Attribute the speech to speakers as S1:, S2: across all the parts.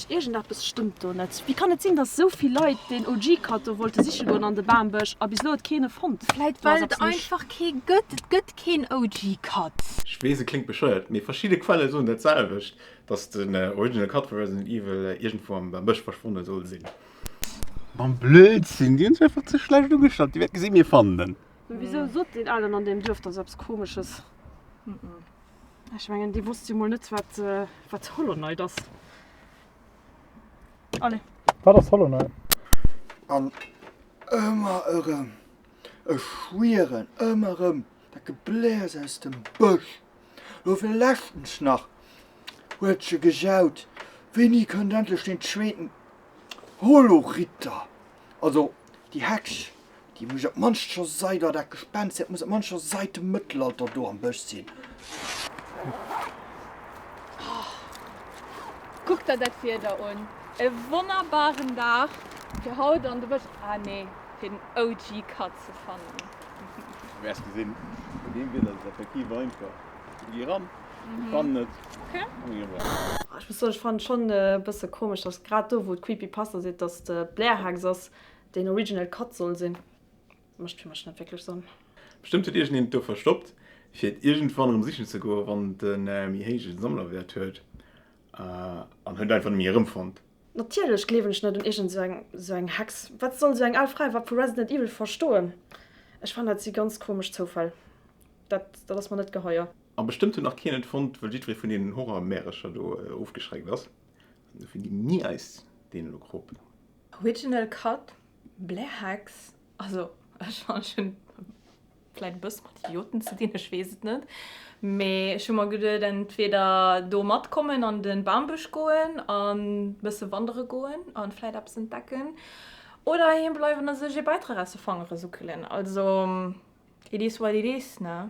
S1: Iergendeppes stëmmt do net. Wéi kann et sinn, datt esou vill Leit den OG-Cut do wollte siche goen an de Bambësch a bis elo huet keen e fonnt? Vläit well et einfach
S2: kee gëtt. Et gëtt keen OG-Cut. Ech weess, et kléngt
S3: bescheuert, mee verschidde Quelle soen dat selwecht, datt den Original Cut vu Resident Evil iergendwou am Bambësch verschwonne soll sinn.
S4: Blödsinn, déi hunn sech einfach ze schlecht ugestallt. Dir wäert gesinn, mir fannen en. Mee wisou sot deen
S1: Alen an deem Duerf da eppes Komesches? Ech mengen, dee wosst jo mol net, wat Holoneit ass. Allez. Wat ass Holoneit?
S5: An
S6: ëmmer erëm, ech schwieren, ëmmer erëm dat Gebläers aus dem Bësch. Lo virleschtens nach huet ech e gejaut, Wéini kënnt endlech deen zweeten Holoritter? Also Déi Hex, déi muss op d'mannst scho seit, oder dat Gespenst, dat muss op d'mannst scho seit dem Mëttelalter do am Bësch sinn.
S2: Kuck der dat Wieder un, e wonnerbaren Dag fir haut an de Bësch, ah nee, fir den OG Cut ze fannen. Wäers
S4: gesinn, bei deem Wieder ass et effektiv einfach. Gi ran!
S2: Ech
S1: muss soen, ech fannen et schon e bësse komesch, dass grad do wou et Creepypasta seet, dass et Blairhex ass, deen original Cut soll sinn. Mécht fir mech net wierklech Sënn. Bestëmmt huet iergendeen
S3: et do verstoppt fir et iergendwann erëm sichen ze goen, wann et en méi héijen Sammlerwäert huet, an huet et einfach net méi erëmfonnt. Natierlech gleewen
S1: ech net un iergend sou eng Hex. Wat soll sou eng al Fra iwwerhaapt vu Resident Evil verstoen? Ech fannen dat si ganz komesch Zoufäll. Dat ass mer net geheier. A bestëmmt huet nach keen
S3: et fonnt, wëll jiddweree vun deenen Horrormärecher do ofgeschreckt ass. An dofir ginn mir eis deen elo krop. Original
S2: Cut, Blair Hex, also ech fanne ech hunn vläit e bësse mat Idioten ze dinn, ech weess et net, mee ech hu mer geduet entweder do matkommen an de Bambësch goen an e bësse wandere goen a vläit eppes entdecken oder heem bleiwen a sech ee Bäitrag aus de Fangere suckelen. Also it is what it is, ne?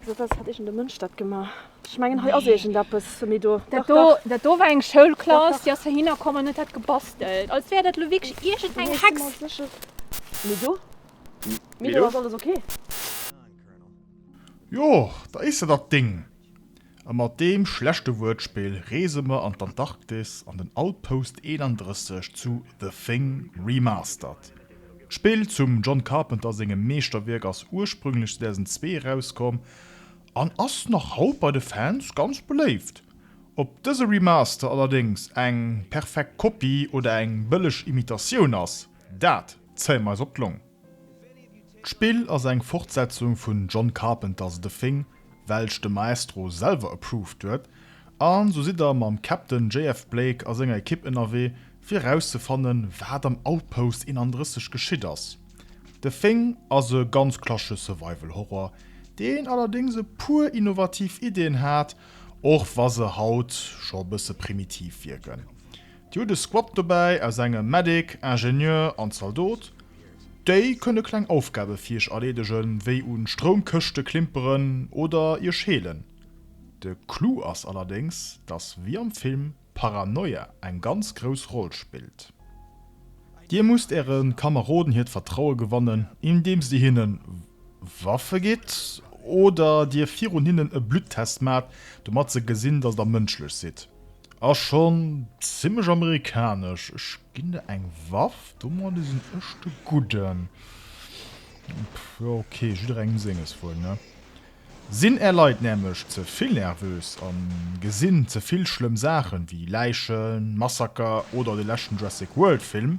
S1: Wéi gesoot, hat iergende Mënsch dat gemaach? Ech mengen hei ass iergend eppes méi do. Dat do, dat do war eng
S2: Schoulklass, déi ass heihinner komm an huet dat gebastelt. Als wär dat elo wierklech iergend eng Hex. Méi do?
S1: Méi do ass alles ok.
S7: Jo, da is dat dat Ding. A mat deem schlechte Wuertspill reese mer an d'Antarktis an den Outpost 31 zu The Thing Remastered. D'Spill zum John Carpenter sengem Meeschterwierk ass ursprünglech 2002 erauskomm an ass nach haut bei de Fans ganz beléift. Ob dëse Remaster allerdéngs eng perfekt Kopie oder eng bëlleg Imitatioun ass, dat zéie mer eis op d'Long. D'Spill ass eng Fortsetzung vun John Carpenters The Thing, welch de Maestro selwer approved huet, an sou sidd der mam Captain JF Blake a senger Ekipp ënnerwee fir erauszefannen wat am Outpost 31 geschitt ass. The Thing ass e ganz klassesche Survival Horror, deen allerdéngs e puer innovativ Iddien hat, och wa se haut scho e bësse primitiv wierken. Dir hutt e Squad dobäi aus engem Medic, Ingenieur an Zaldot. Déi kënne kleng Aufgabe fir iech erleedegen, wéi un Stroumkëschte klimperen oder iech heelen. De Clou ass allerdéngs, dass wéi am Film Paranoia eng ganz grouss Roll spillt. Dir musst äre Kameroden hiert Vertraue gewannen, indeems dir hinnen Waffe gitt oder dir virun hinnen e Bluttest maacht, domat se gesinn, dass der mënschlech sidd. Ass schon zimlech amerikanesch. Ech ginn der eng Waff, domadde sinn ech de Gudden. Jo ok, jidderengem senges wuel, ne? Sinn är Leit nämlech ze vill nervös a gesinn ze vill schlëmm Saachen, wéi Läichen, Massaker oder de leschten Jurassic World Film,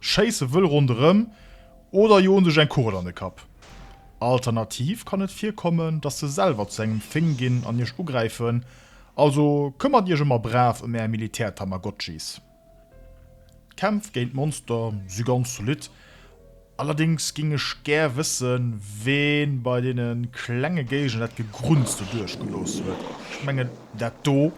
S7: Schéisse wëll ronderëm oder jo un sech eng Kugel an de Kapp. Alternativ kann et virkommen, dass se selwer zu engem Fing ginn an iech ugräifen, also këmmert iech ëmmer brav ëm är Militär-Tamagotchis. D'Kämpf géint d'Monster si ganz zolidd, allerdéngs géing ech gär wëssen, ween bei deene klenge Géigner dat Gegrunzte duerchgelooss huet. Ech mengen dat do.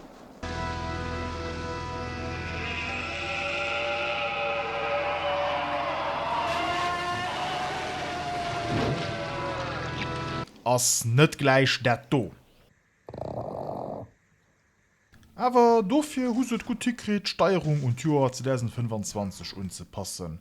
S7: Ass net gläich dat do. Awer dofir hu se et gutt hikritt, d'Steierung un d'Joer 2025 unzepassen.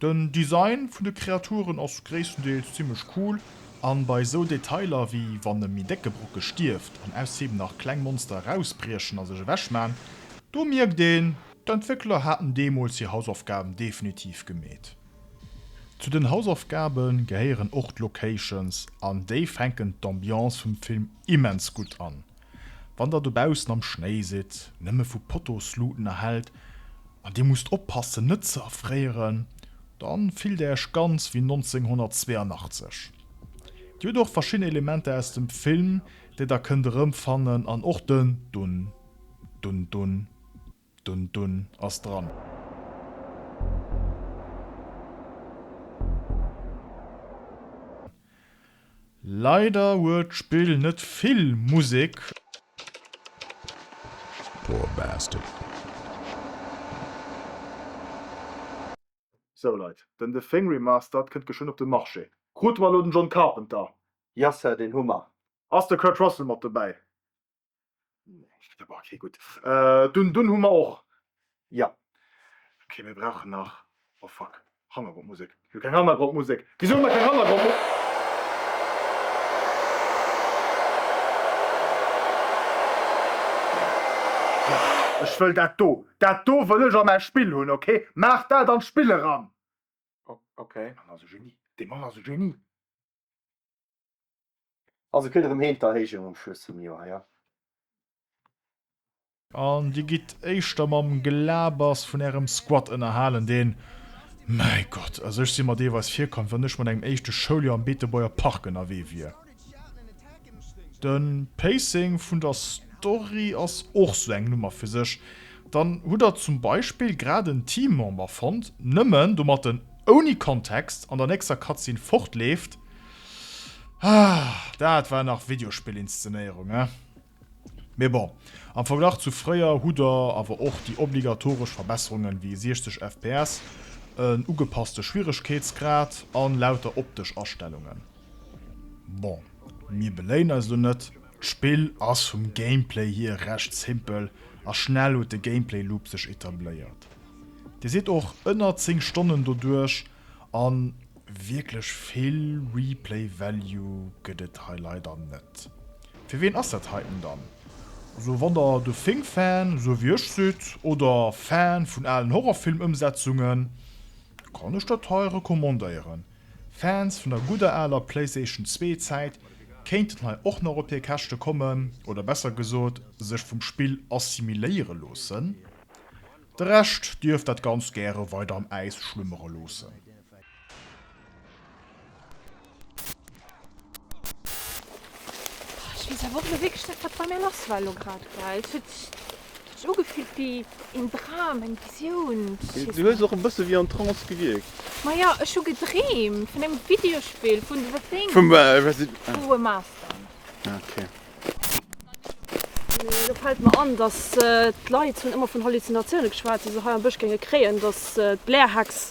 S7: Den Design vun de Kreaturen ass gréisstendeels zimmlech cool, an bei sou Detailer wéi wann e méi décke Brocke stierft an ausserdeem nach kleng Monster erausbriechen a sech ewech man, do mierkt een, d'Entwéckler haten deemools hir Hausaufgaben definitiv gemeet. Zu den Hausaufgabe gehéieren och d'Locations, an déi fänken d'Ambiance vum Film immens gutt an. Wann der dobaussen am Schnéi sidd, nëmme vu Potosluten erhellt, an dir musst oppassen net ze erfréieren, dann fillt der iech ganz wéi 1982. Dir hutt och verschidden Elementer aus dem Film, déi der kënnt erëmfannen, an och den Dun, dun, dun. Dunn dunn ass dran. Leider huet d'Spill net vill Musek.
S8: Poor bastard.
S7: Sou Leit, den The Thing Remastered kënnt geschwënn op de Marché. Krute mer elo den John Carpenter? Yes sir, deen
S6: hu mer. Ass de Kurt Russell
S7: mat dobäi? Okay, gutt. Dunn, dunn hu mer och, jo.
S6: Okay,
S7: mir brauchen nach, oh fuck, Hannergrondmusek. Mir hu keng Hannergrondmusek. Wisou hu mer keng Hannergrondmusek? Ech wëll dat do, dat do wëll ech a mäi Spill hunn, okay? Maach dat an d'Spill eran! Okay.
S6: Dee Mann ass e Genie,
S7: dee Mann ass e Genie!
S6: Also kritt erëm Heem d'Erhéijung um Schluss vum Joer, jo.
S7: An dir gitt éischter mam Gelabers vun ärem Squad ënnerhalen, deen, mäi Gott, also ech si mer deelweis virkomm, wéi wann ech mat engem éischte Schouljoer am Beetebuerger Park ënnerwee wier. De Pacing vun der Story ass och sou eng Nummer fir sech, Dann hutt der zum Beispill grad en Teammember fonnt, nëmmen domat en ouni Kontext an der nächster Cutscene fortleeft. Ah, dat war nach Videospill-Inszenéierung, eh? Mee bon, am Verglach zu fréier hutt der awer och déi obligatoresch Verbesserungen wéi 60 fps, en ugepasste Schwieregkeetsgrad an lauter optesch Astellungen. Bon, mir beléien eis elo net. D'Spill ass vum Gameplay hier recht simpel a schnell huet de Gameplay Loop sech etabléiert. Dir sidd och ënner 10 Stonnen doduerch an wierklech vill Replay Value gëtt et hei leider net. Fir ween ass dat heiten dann? Also wann der de Thing Fan esou wéi ech sidd oder Fan vun alen Horrorfilm Ëmsetzungen, kann ech dat hei recommandéieren. Fans vun der gudder aler Playstation zwee Zäit kéinten hei och nach op hir Käschte kommen, oder besser gesot sech vum Spill assimiléiere loossen. De Rescht dierf dat Ganzt gäre weider am Äis schlummere loossen.
S2: Ich wees awer och net wierklech dat wat bei mir lass war elo grad, well et huet sech sech ugefillt wéi een Dram, eng Visioun, je sais Du hues pas. och e bësse
S4: wéi en Trance gewierkt. Maja, ech hu
S2: gedreemt vun engem Videospill, vun The Thing, Vum Resi.
S4: Ah. Vu Remaster.
S2: Ah,
S4: okay.
S1: Lo fällt mer an, dass d'Leit hunn ëmmer vun Halluzinatioune geschwat, déi se hei am Bësch géinge kréien, dass d'Blair-Hex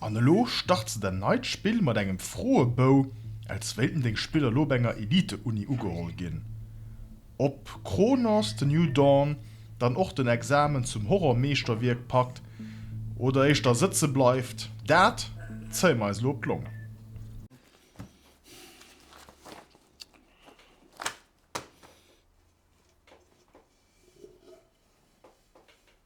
S7: An elo start se dann neit Spill mat engem Froebou, als wéilten deng Spiller elo op enger Elite-Uni ugeholl ginn. Ob Chronos, The New Dawn dann och den Examen zum Horror-Meeschterwierk packt oder éischter sëtze bleift, dat zéie mer eis elo op d'Longe.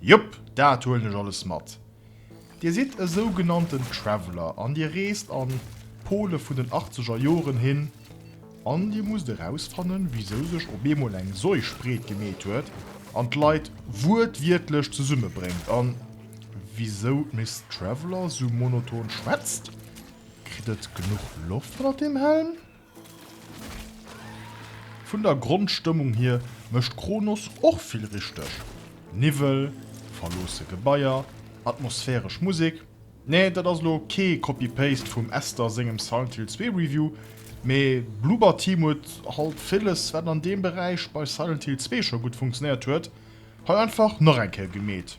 S7: Jop, dat huelen ech alles mat. Dir sidd e sougenannten Traveller an Dir reest an d'Pole vun den achtzeger Joren hin an Dir musst erausfannen, wisou sech op eemol eng Seuch breet gemeet huet an d'Leit wuertwiertlech zesummebréngt an wisou d'Miss Traveller sou monoton schwätzt. Kritt et genuch Loft ënnert deem Helm? Vun der Grondstëmmung hier mécht Kronos och vill richteg, Niwwel, verloosse Gebaier, atmosphäresch Musek. Nee, dat ass elo kee Copy-Paste vum Esther sengem Silent Hill 2 Review, mee Bloober Team huet halt villes, wat an deem Beräich bei Silent Hill 2 scho gutt funktionéiert huet, hei einfach nach eng Kéier gemeet.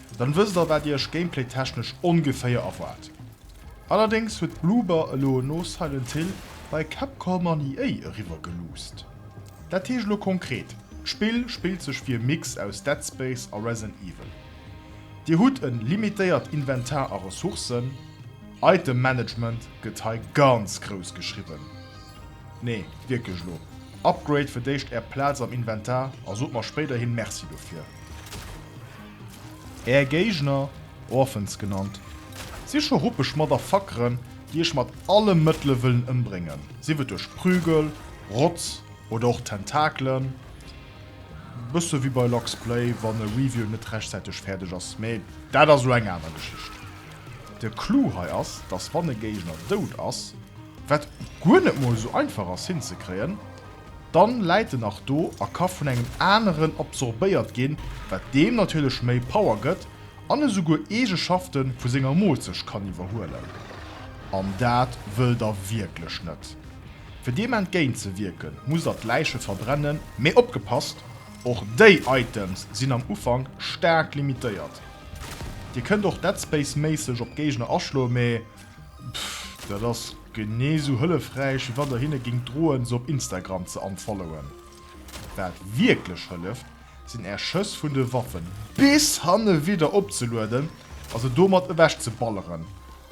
S7: Dann wësst der wat iech gameplaytechnesch ongeféier erwaart. Allerdéngs huet Bloober elo no Silent Hill bei Capcom an EA eriwwer geluusst. Dat heescht elo konkret, d'Spill spillt sech wéi e Mix aus Dead Space a Resident Evil. Dir hutt en limitéiert Inventar a Ressourcen. Item Management gëtt hei ganz grouss geschriwwen. Nee, wierklech elo. Upgrade fir d'éischt är Plaz am Inventar a sot mer spéiderhin Merci dofir. Är Géigner, Orphans genannt, si scho ruppeg Motherfuckeren, déi iech mat alle Mëttele wëllen ëmbréngen, sief et duerch Prügel, Rotz oder och Tentakelen. Bësse wéi bei Lux Play, wann e Review net rechtzäiteg fäerdeg ass, mee dat ass elo eng aner Geschicht. De Clou hei ass, dass wann e Géigner dout ass, Wat guer net mol esou einfach ass hinzekréien, dann läit en nach do a ka vun engem aneren absorbéiert ginn, wat deem natierlech méi Power gëtt an esouguer Eegeschafte vu senger Moolzecht kann iwwerhuelen. An dat wëll der wierklech net. Fir deem entgéint ze wierken, musst der d'Läiche verbrennen, mee opgepasst, och déi Items sinn am Ufank staark limitéiert. Dir kënnt och Dead Space méisseg op d'Géigner aschloen, mee Dat ass genee sou hëllefräich wéi wann der hinne géingt droen se op Instagram ze unfollowen. Wat wierklech hëlleft sinn är Schëss vun de Waffen bis hanne widder opzelueden a se domat ewech ze balleren.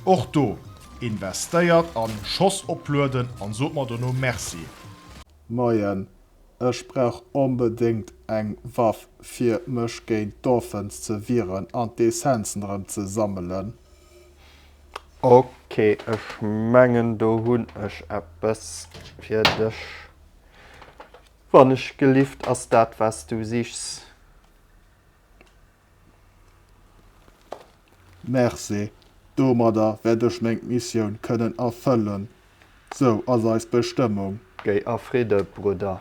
S7: Och do, investéiert an Schoss oplueden an sot mer dono Merci. Moien,
S5: ech brauch onbedéngt eng Waff fir mech géint d'Dolphins ze wieren an d'Essenzen erëm ze sammelen. Ok,
S6: ech mengen do hunn ech eppes fir dech. Wannechgelift ass dat wat s du sichs.
S5: Merci, domadder wäert ech meng Missioun kënnen erfëllen. Sou ass eis Bestëmmung. Géi a Fridde,
S6: Brudder.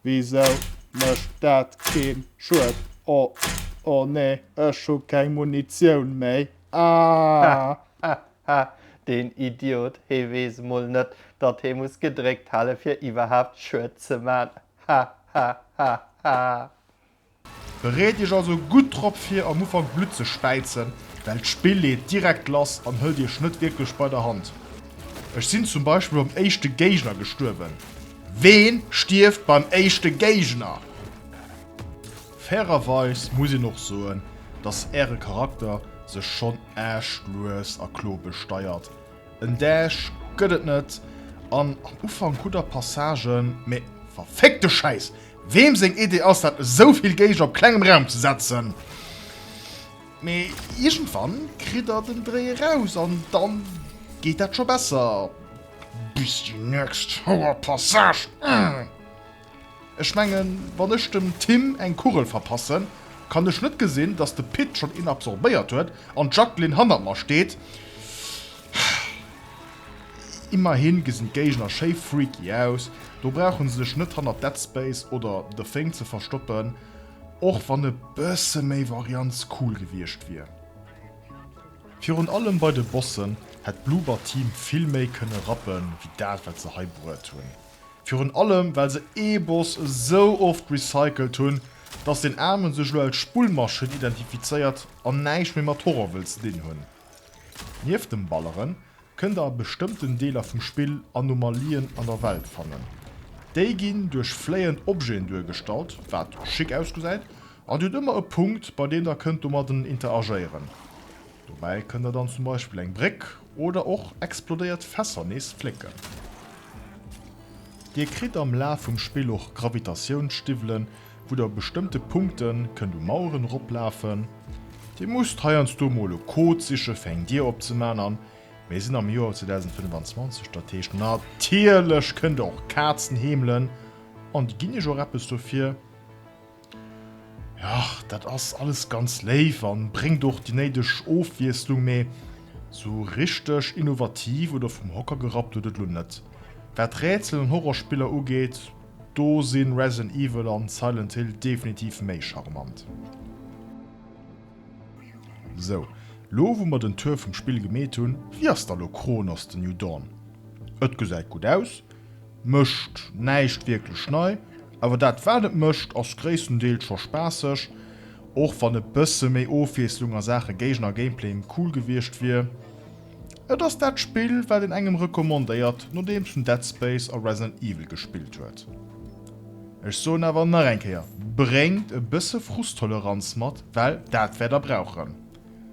S5: Wisou mécht dat keen Schued? Oh, oh nee, ech hu keng Munitioun méi, aah! Ha,
S6: deen Idiot, hee weess mol net, datt hee muss gedréckt hale fir iwwerhaapt Schued ze man. Ha, ha, ha, ha.
S7: Bereet Iech also gutt drop vir am Ufank Blutt ze späizen, well d'Spill leet direkt lass an hëlt Iech net wierklech bei der Hand. Ech sinn zum Beispill beim éischte Géigner gestuerwen. Ween stierft beim éischte Géigner? Fairerweis muss een och soen, datt Äre Charakter sech schonn Aaschtlues a klo besteiert. En Däsch gëtt et net an am Ufank hutt der Passagen, mee verfickte Schäiss, weem seng Idee ass dat esou vill Geiger op klengem Raum ze setzen? Mee iergendwann kritt der den Dréi eraus an dann geet dat scho besser. Bis déi nächst Houer Passage. Ech mengen, wann ech dem Tim eng Kugel verpassen, kann ech net gesinn, datt de Pit schonn een absorbéiert huet an d'Jacqueline hannert mer steet. Immerhi gesinn d'Géigner schéi freaky aus, do brauche se sech net hannert Dead Space oder The Thing ze verstoppen, och wann e bësse méi Varianz cool gewiescht wier. Virun allem bei de Bossen hätt d'Bloober Team vill méi kënne rappen, wéi dat, wat se hei bruet hunn. Virun allem well se ee Boss esou oft recycelt hunn, dass deen Aarmen sech elo als Spullmaschinn identifizéiert an näischt méi mat Horror wëll ze dinn hunn. Nieft dem Balleren kënnt der a bestëmmten Deeler vum Spill Anomalien an der Welt fannen. Déi ginn duerch fléiend Objeten duergestallt, wat schick ausgesäit, an dir hutt ëmmer e Punkt bei deem der kënnt domadden interagéieren. Dobäi kënnt der dann zum Beispill eng Bréck oder och explodéiert Fässer nees flécken. Dir kritt am Laf vum Spill och Gravitatiounsstiwwelen, wou der bestëmmte Punkte kënnt u Maueren eroplafen. Dir musst heiansdo mol e Code siche fir eng Dier opzemaachen an mir sinn am Joer 2025, dat heescht natierlech kënnt der och Kazen heemelen an déi ginn iech och eppes dofir. Jo, dat ass alles ganz léif an bréngt och déi néideg Ofwiesslung, mee sou richteg innovativ oder vum Hocker gerappt huet et lo net. Wat Rätsel an Horrorspiller ugeet, do sinn Resident Evil an Silent Hill definitiv méi charmant. Sou, lo wou mer den Tour vum Spill gemeet hunn, wéi ass da lo Chronos, The New Dawn? Et gesäit gutt aus. Mécht näischt wierklech nei, awer dat wat et mécht ass gréisstendeels scho spaasseg, och wann e bësse méi Ofwiesslung a Saache Géigner a Gameplay cool gewiescht wier. Et ass dat Spill wat een engem recommandéiert nodeems en Dead Space a Resident Evil gespillt huet. Ech soen awer nach eng Kéier, bréngt e bësse Frusttoleranz mat, well dat wäert der brauchen.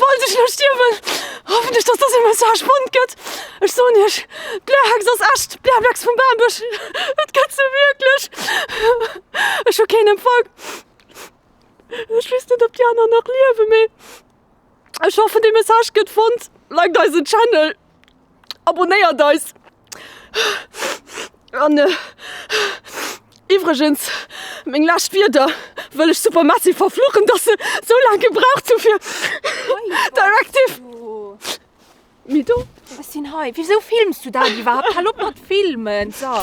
S1: Falls ech elo stierwen, hoffen ech, dass dëse Message spannend gëtt. Ech soen iech, d'Blärhex ass echt, d'Blärblex vum Bambusch, et gëtt se wierklech. Ech hu keen Empfang, ech weess net, ob déi aner nach liewen, mee Ech hoffen de Message gëtt fonnt, liked eisen Channel, abonéiert eis an iwwregens meng lescht Wierder wëll ech super Messy verfluchen, dass se sou laang gebraucht hu fir Directive. Mee do ass hien hei. Wisou
S2: films du dat iwwerhaapt? Hal op mat filmen! So.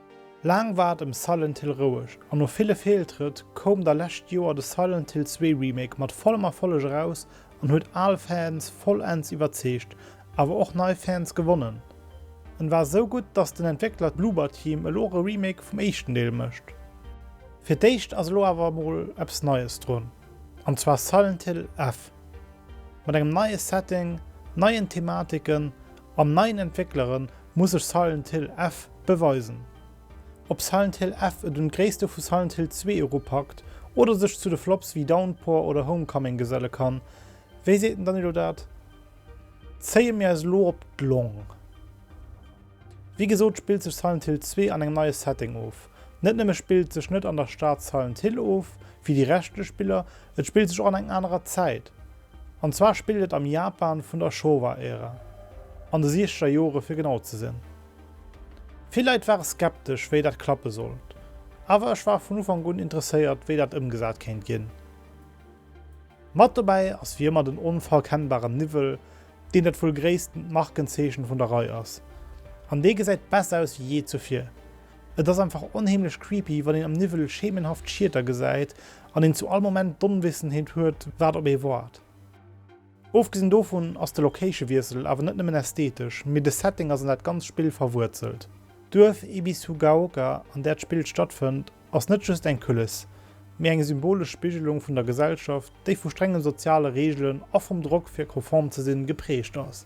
S9: Laang war et ëm Silent Hill roueg, an no ville Feeltrëtt koum da lescht Joer de Silent Hill 2 Remake mat vollem Erfolleg eraus an huet al Fans vollends iwwerzeegt, awer och nei Fans gewonnen. En war esou gutt, dass den Entwéckler Bloober Team elo och e Remake vum éischten Deel mécht. Fir d'éischt ass elo awer emol eppes Neies drun, an zwar Silent Hill F. Mat engem neie Setting, neien Thematiken Mam neien Entwécklere muss sech Silent Hill F beweisen. Ob Silent Hill F et un d'Gréisste vu Silent Hill 2 eropackt oder sech zu de Flops wéi Downpour oder Homecoming geselle kann, wéi seet den Danilo dat, zéie mir eis elo op d'Long. Wéi gesot spillt sech Silent Hill 2 an engem neie Setting of. Net nëmme spillt sech net an der Stad Silent Hill of, wéi déi reschtlech Spiller, et spillt sech och an eng anerer Zäit. An zwar spillt et am Japan vun der Showa-Ära, an de siechzeger Jore fir genau ze sinn. Vill Leit ware skeptesch, wéi dat klappe sollt, awer ech war vun Ufank un interesséiert, wéi dat ëmgesat kéint ginn. Mat dobäi ass wéi ëmmer den onverkennbaren Niwwel, deen dat wuel gréissten Markenzeechen vun der Rei ass, an dee gesäit besser aus wéi jee zuvir. Et ass einfach onheemlech creepy, wann een am Niwwel schemenhaft Schieter gesäit an een zu all Moment d'Onwissenheet huet, wat op ee woart. Ofgesinn dovun ass de Location-Wiessel awer net nëmmen ästhetesch, mee de Setting ass an dat ganzt Spill verwuerzelt. D'Duerf Ibisugaoka, an där d'Spill stattfënnt, ass net just eng Kulisse, mee eng symbolesch Spigelung vun der Gesellschaft, déi vu strenge soziale Reegelen a vum Drock, fir konform ze sinn, geprägt ass.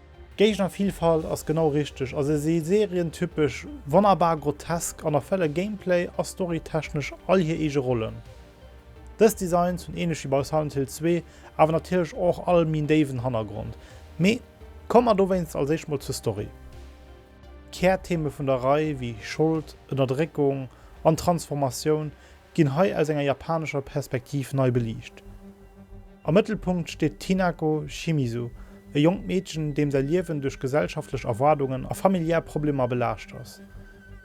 S9: Géignervillfalt ass genau richteg a se si serien-typesch, wonnerbar grotesk an erfëlle gameplay a storytechnesch all hir eege Rollen. Dës Designs hunn ähnlech wéi bei Silent Hill 2 awer natierlech och all méi en déiwen Hannergrond. Mee komme mer dowéinst als éischt mol zur Story. D'Kärtheme vun der Rei wéi Schold, Ënnerdréckung an Transformatioun ginn hei aus enger japanescher Perspektiv nei beliicht. Am Mëttelpunkt steet d'Hinako Shimizu, e jonkt Meedchen, deem säi Liewen duerch gesellschaftlech Erwaardungen a familiär Problemer belaascht ass.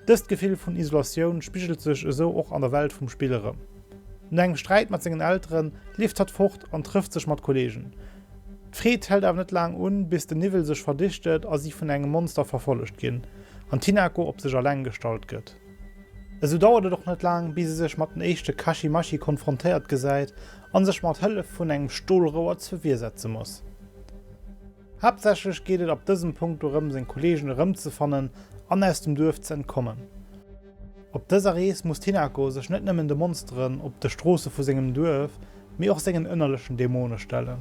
S9: Dëst Gefill vun Isolatioun spigelt sech esou och an der Welt vum Spill erëm. No engem Sträit mat sengen Eltere leeft hatt fort an trëfft sech mat Kolleegen. D'Freed hält awer net laang un, bis den Niwwel sech verdichtet a si vun engem Monster verfollegt ginn an d'Hinako op sech eleng gestallt gëtt. Esou dauert et och net laang, bis e sech mat den éischte Kaschimaschi konfrontéiert gesäit a sech mat Hëllef vun engem Stolrouer zur Wier setze muss. Haaptsächlech geet et ab dësem Punkt dorëm, seng Kolleegen erëmzefannen an aus dem Duerf ze entkommen. Op dëser Rees muss d'Hinako sech net nëmmen de Monsteren op de Stroosse vu sengem Duerf, mee och sengen ënnerlechen Dämone stellen.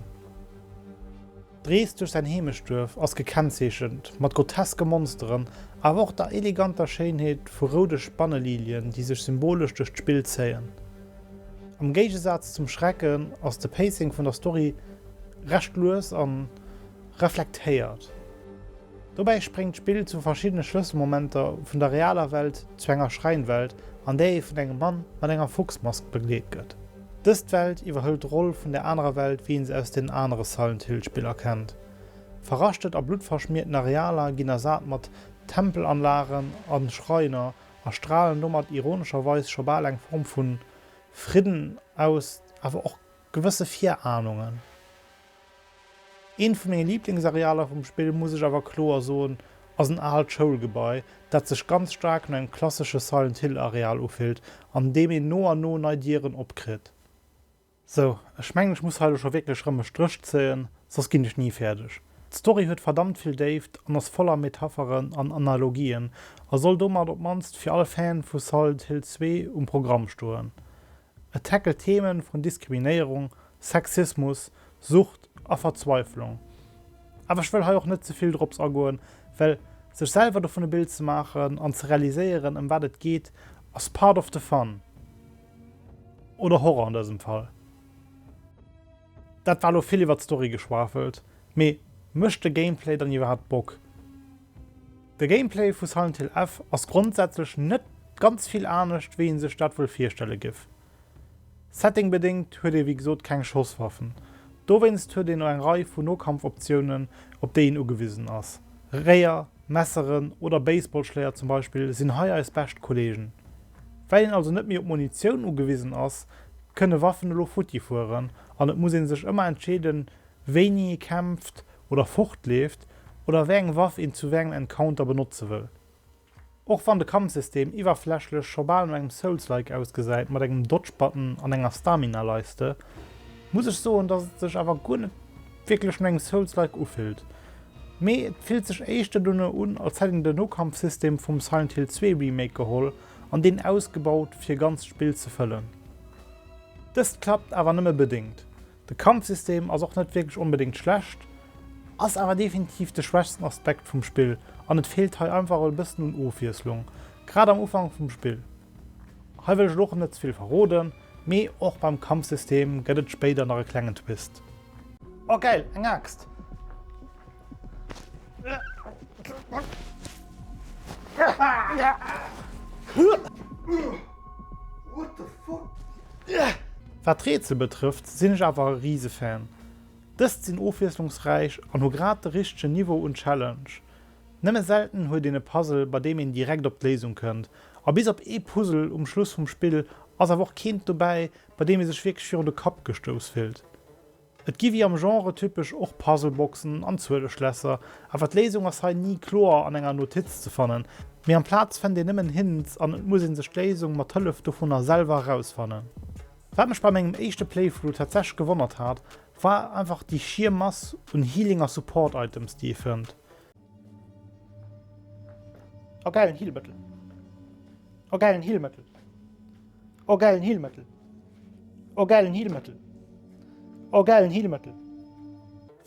S9: D'Rees duerch säin Heemechtsduerf ass gekennzeechent mat groteske Monsteren, awer och der eleganter Schéinheet vu roude Spannelilien, déi sech symbolesch duerch d'Spill zéien. Am Géigesaz zum Schrecken ass de Pacing vun der Story recht lues a reflektéiert. Dobäi spréngt d'Spill zu verschiddene Schlësselmomenter vun der realer Welt zu enger Schreinwelt, an där ee vun engem Mann mat enger Fuchsmask begleet gëtt. Dëst Welt iwwerhëlt d'Roll vun der anerer Welt wéi een se aus den anere Silent Hill Spiller kennt. Verraschtert a bluttverschmiierten Arealer ginn ersat mat Tempelanlagen a Schreiner a stralen domat ironescherweis scho bal eng Form vu Fridden aus, awer och gewësse Virahnungen. Eent vu menge Liblingsarealer vum Spill, muss ech awer kloer soen, ass en aalt Schoulgebai, dat sech ganz staark no engem klassesche Silent Hill Areal ufillt, an deem een no an no nei Dieren opkritt. Sou, ech mengen ech muss hei elo scho wierklech rëm e Stréch zéien, soss ginn ech ni fäerdeg. D'Story huet verdammt vill Déift an ass voller Metapheren an Analogien a soll domat op d'mannst fir all Fan vu Silent Hill 2 um Programm stoen. Et tackelt Themen vun Diskriminéierung, Sexismus, Sucht a Verzweiflung. Awer ech wëll hei och net ze vill drops agoen, well sech selwer dovun e Bild ze maachen an ze realiséieren, ëm wat et geet, ass part of the fun. Oder Horror an dësem Fall. Dat war lo vill iwwert d'Story geschwafelt, mee mécht de Gameplay dann iwwerhaapt Bock? De Gameplay vu Silent Hill F ass grondsätzlech net ganz vill anescht, wéi ee sech dat wuel virstelle géif. Settingbedéngt huet ee wéi gesot keng Schosswaffen. Dowéinst huet een eng Rei vu Nokampfoptiounen, op déi een ugewisen ass. Réier, Messeren oder Baseballschléier zum Beispill sinn hei eis bescht Kolleegen. Well een also net méi op Munitioun ugewisen ass, kënne Waffen elo futti fueren an et muss ee sech ëmmer entscheeden, wéini ee kämpft oder fortleeft oder wéi eng Waff een zu wéi engem Encounter benotze wëll. Och wann de Kampfsystem iwwerflächlech scho bal no engem Souls-like ausgesäit mat engem Dodge-Button an enger Stamina-Leiste, muss ech soen dass et sech awer guer net wierklech no engem Souls-like ufillt, mee et fillt sech éischter dono un als hätt een de Nokampfsystem vum Silent Hill 2 Remake geholl an deen ausgebaut fir ganzt Spill ze fëllen. Dëst klappt awer nëmme bedéngt, De Kampfsystem ass och net wierklech onbedéngt schlecht, ass awer definitiv de schwächsten Aspekt vum Spill an et feelt hei einfach e bëssen un Ofwiesslung, grad am Ufank vum Spill. Hei wëll ech et och net ze vill verroden, mee och beim Kampfsystem gëtt et spéider nach e klengen Twist. Oh geil, eng Aaxt! Wat Rätsel betrëfft sinn ech awer e Risefan. Dëst sinn ofwiesslungsräich an hu grad de richtegen Niveau un Challenge. Nëmme selten huet een e Puzzle bei deem een direkt op d'Léisung kënnt, a bis op ee Puzzle um Schluss vum Spill ass awer och keent dobäi, bei deem ee sech wierklech virun de Kapp gestouss fillt. Et gi wéi am Genre typesch och Puzzleboxen an Zueleschlässer, awer d'Léisung ass hei ni kloer an enger Notiz ze fannen, mee amplaz fënnt een nëmmen Hints an et muss ee sech d'Léisung mat Hëllef dovunner selwer erausfannen. Wat mech bei mengem éischte Playthrough tatsächlech gewonnert hat, war einfach déi schier Mass un Healing a Support Items, déi ee fënnt. Oh geilen Heelmëttel. Oh geilen Heelmëttel. Oh geilen Heelmëttel. Oh geilen Heelmëttel. Oh geilen Heelmëttel.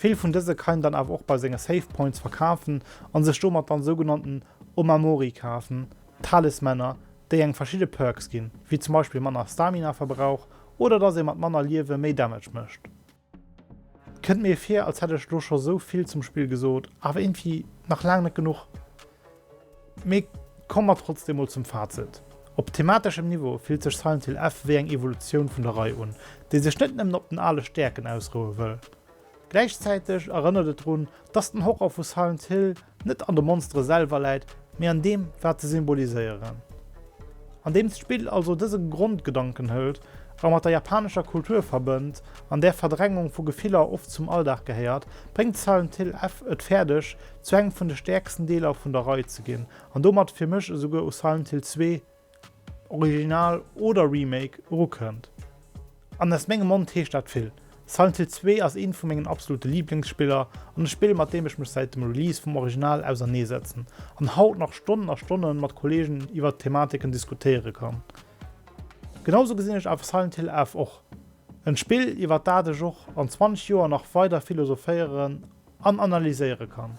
S9: Vill vun dëse kann een dann awer och bei senge Save Points verkafen an sech domat dann sougenannten Omamori kafen, Talismänner, déi engem verschidde Perks ginn, wéi zum Beispill manner Stamina-Verbrauch oder dass ee mat manner Liewe méi Damage mécht. Kënnt mir vir als hätt ech lo scho sou vill zum Spill gesot, awer irgendwie nach laang net genuch. Mee komme mer trotzdem mol zum Fazit. Op themateschem Niveau fillt sech Silent Hill F wéi eng Evolutioun vun der Rei un, déi sech net nëmmen op den ale Stäerken ausroue wëll. Gläichzäiteg erënnert et drun, Dass den Horror vu Silent Hill net an de Monstere selwer läit, mee an deem, wat se symboliséieren. Andeems d'Spill also dëse Grondgedanken hëlt a mat der japanescher Kultur verbënnt, an där Verdrängung vu Gefiller oft zum Alldag gehéiert, bréngt Silent Hill F et fäerdeg, zu engem vun de stäerksten Deeler vun der Rei ze ginn an domat fir mech esouguer u Silent Hill 2, Original oder Remake, erukënnt. An aus mengem Mond heescht dat vill. Silent Hill 2 ass eent vu mengen absolute Liblingsspiller an e Spill mat deem ech mech säit dem Release vum Original ausernee setzen an haut nach Stonnen a Stonnen mat Kollegen iwwert d'Thematiken diskutéiere kann. Genau sou gesinn ech awer Silent Hill F och. En Spill iwwert dat ech och an 20 Joer nach weider philosophéieren an analyséiere kann.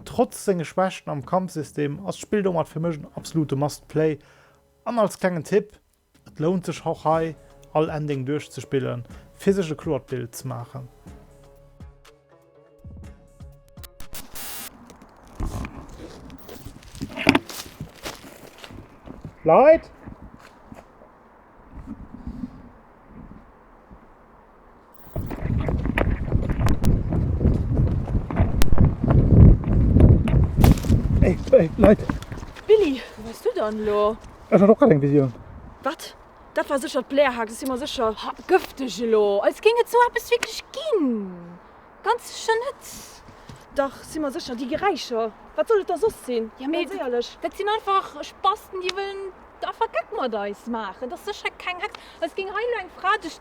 S9: Trotz senge Schwächten am Kampfsystem ass d'Spill domat fir mech en absolute must play an als klengen Tipp, et lount sech och hei all Ending duerchzespille fir sech e kloert Bild ze maachen. Leit! Ey, ey, Leit! Willy, wou
S1: wars du dann elo? Ech hat och grad eng Visioun.
S9: Wat?
S1: Dat war sécher d'Blairhaxe, si mer sécher. Ha, gëfteg elo, als géing et sou eppes wierklech ginn. Ganz
S2: sécher net. Dach,
S1: si mer sécher, déi Geräischer, wat soll et da soss sinn? Jo, mee dat
S2: sinn einfach Spasten, déi wëllen einfach Geck mat eis maachen. Et ass sécher keng Hex, als géing hei elo eng Fra duerch.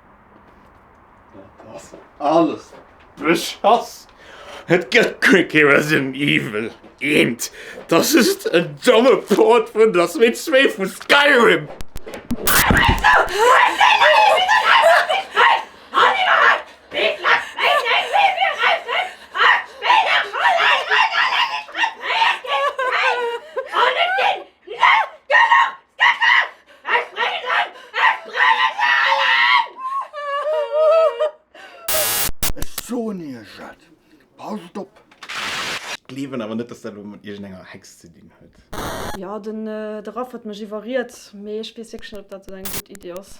S3: Dat ass alles Beschass! Et gëtt guer kee Resident Evil 1, dass just en domme Port vun Der Switch 2 vu Skyrim!
S6: Ech soen iech et, passt op! Ech
S3: gleewen awer net, dass dat elo mat iergendenger Hex ze dinn huet. Jo,
S1: de Raph huet mech iwwerriet,
S3: mee
S1: ech weess wierklech net, ob dat esou eng gutt Iddi ass.